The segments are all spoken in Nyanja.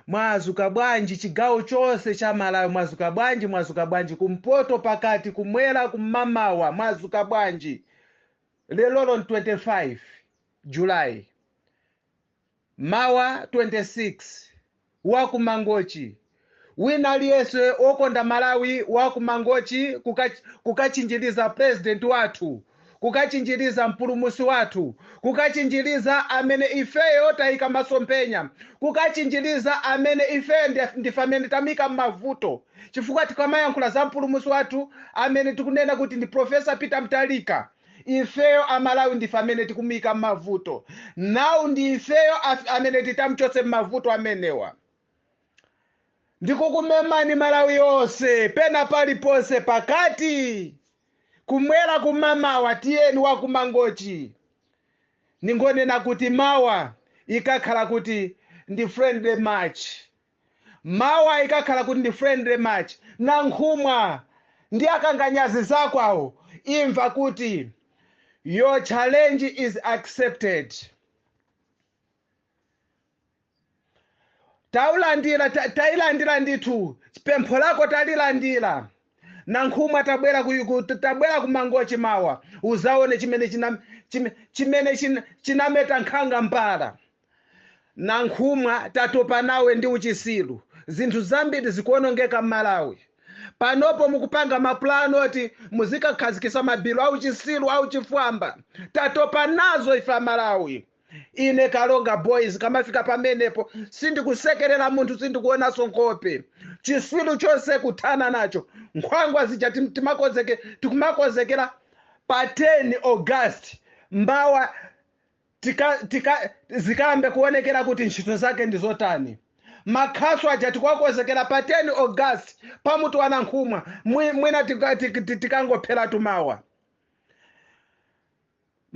mwazuka bwanji chigawo chonse cha malawi mwazuka bwanji mwazuka bwanji kumpoto pakati kumwera kumamawa mwazuka bwanji lerolo ndi 25 julayi mawa 26 wakumangochi Wina aliyese okonda Malawi wa ku Mangochi kukachinjiliza president wathu, kukachinjiliza mpulumusi wathu, kukachinjiliza amene ifeyo tayika masomphenya, kukachinjiliza amene ifeyo ndife amene tamuyika mmavuto chifukwa tikamayankhula za mpulumusi wathu amene tikunena kuti ndi Prof. Peter Mutharika ifeyo a Malawi ndife amene tikumuyika mmavuto now ndi ifeyo amene titamchotse mmavuto amenewa. ndikukumemani malawi yonse pena paliponse pakati kumwera kumamawa tiyeni wakumangochi ndingonena kuti mawa ikakhala kuti ndi friendly match mawa ikakhala kuti ndi friendly match nankhumwa ndi akanganyazi zakowo imva kuti your challenge is accepted taulandira ta- tailandira ndithu pempho lako talilandira nankhumwa tabwera ku, ku, tabwera ku mangochi mawa uzaone chimene china- chime- chimene china- chinameta nkhanga mpala nankhumwa tatopa nawe ndi uchisiru zinthu zambiri zikuonongeka m'malawi panopo mukupanga mapulani oti muzikakhazikisa mabilu auchisiru auchifwamba tatopa nazo ife amalawi ine Karonga boys kamafika pamenepo sindikusekerera munthu sindikuonanso nkhope chisilu chonse kuthana nacho nkhwangwa zija tim- timakozeke tikumakozekera pa 10 august mmawa tika, tika, zikayambe kuonekera kuti ntchito zake ndi zotani makhasu aja tikuwakozekera pa 10 august pamutu wa nankhumwa Mwi- mwina tika- tik- tik- tikangopheratu mawa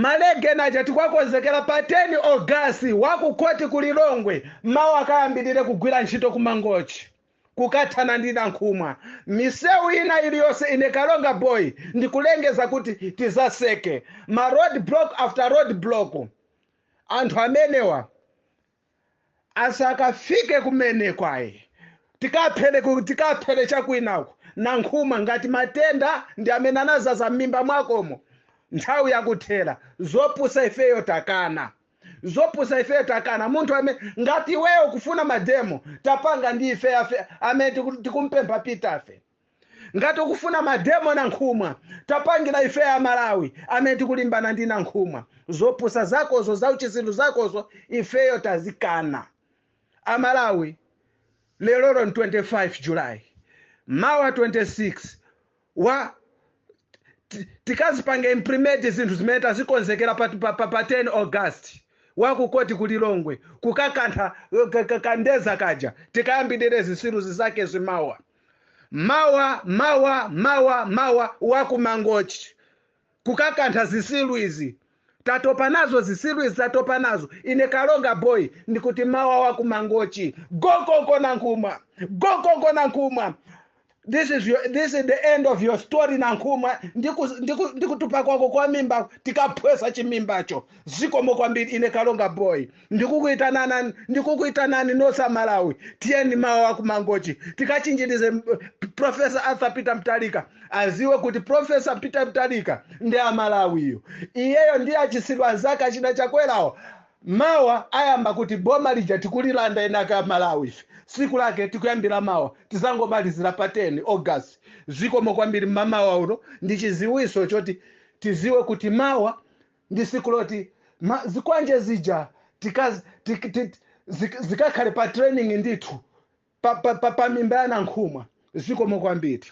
Malegeni aja tikuwakonzekera pa 10 Ogasi wa ku khoti ku Lilongwe mawa akayambirire kugwira ntchito ku Mangochi kukathana ndi Nankhumwa. Misewu ina iliyonse ine Karonga Boy ndikulengeza kuti tizaseke ma roadblock after roadblock anthu amenewa. asakafike kumene kwaye tikaphele ku- tikaphele chakwinako Nankhumwa ngati matenda ndi amene anazaza m'mimba mwakomo nthawi yakuthera zopusa ifeyo takana zopusa ifeyo takana munthu amene ngati iweyo kufuna mademo tapanga ndi ife afe amene tiku- tikumpempha pitafe ngati ukufuna mademo nankhumwa tapangira ifeyo amalawi amene tikulimbana ndi nankhumwa zopusa zakozo zauchisilu zakozo ifeyo tazikana amalawi lerolo ni 25 july mawa 26 wa ti- tikazipange implement zinthu zimene tazikonzekera pa, pa, pa, pa 10 august wakukoti ku lilongwe kukakantha eh, ka- ka- kandeza kaja tikayambirire zisiru zake zimawa mawa mawa mawa mawa wakumangochi kukakantha zisilu izi tatopa nazo zisilu izi tatopa nazo ine karonga boy ndikuti mawa wakumangochi gokoko nankhumwa gokoko nankhumwa this is, your, this is the end of your story nankhumwa ndikutupa ndiku, ndiku ndikutupa kwako kwa mimba tikaphwesa chimimbacho zikomo kwambiri ine karonga boy ndikukuitanana ndikukuitanani nonse amalawi tiyeni mawa wakumangochi tikachinjirize m- profesa arthur peter mutharika aziwe kuti profesa peter mutharika ndi amalawiyo iyeyo ndi achitsiru anzake achina chakwerawo mawa ayamba kuti boma lija tikulilanda eni ake amalawi ife siku lake tikuyambira mawa tizangomalizira pa 10 august zikomo kwambiri mmamawa uno ndi chiziwiso choti tiziwe kuti mawa ndi siku loti ma zikwanje zija tikaz tik, tik, zik, zikakhale pa training ndithu pa, pa, pa, pa mimba ya nankhumwa zikomo kwambiri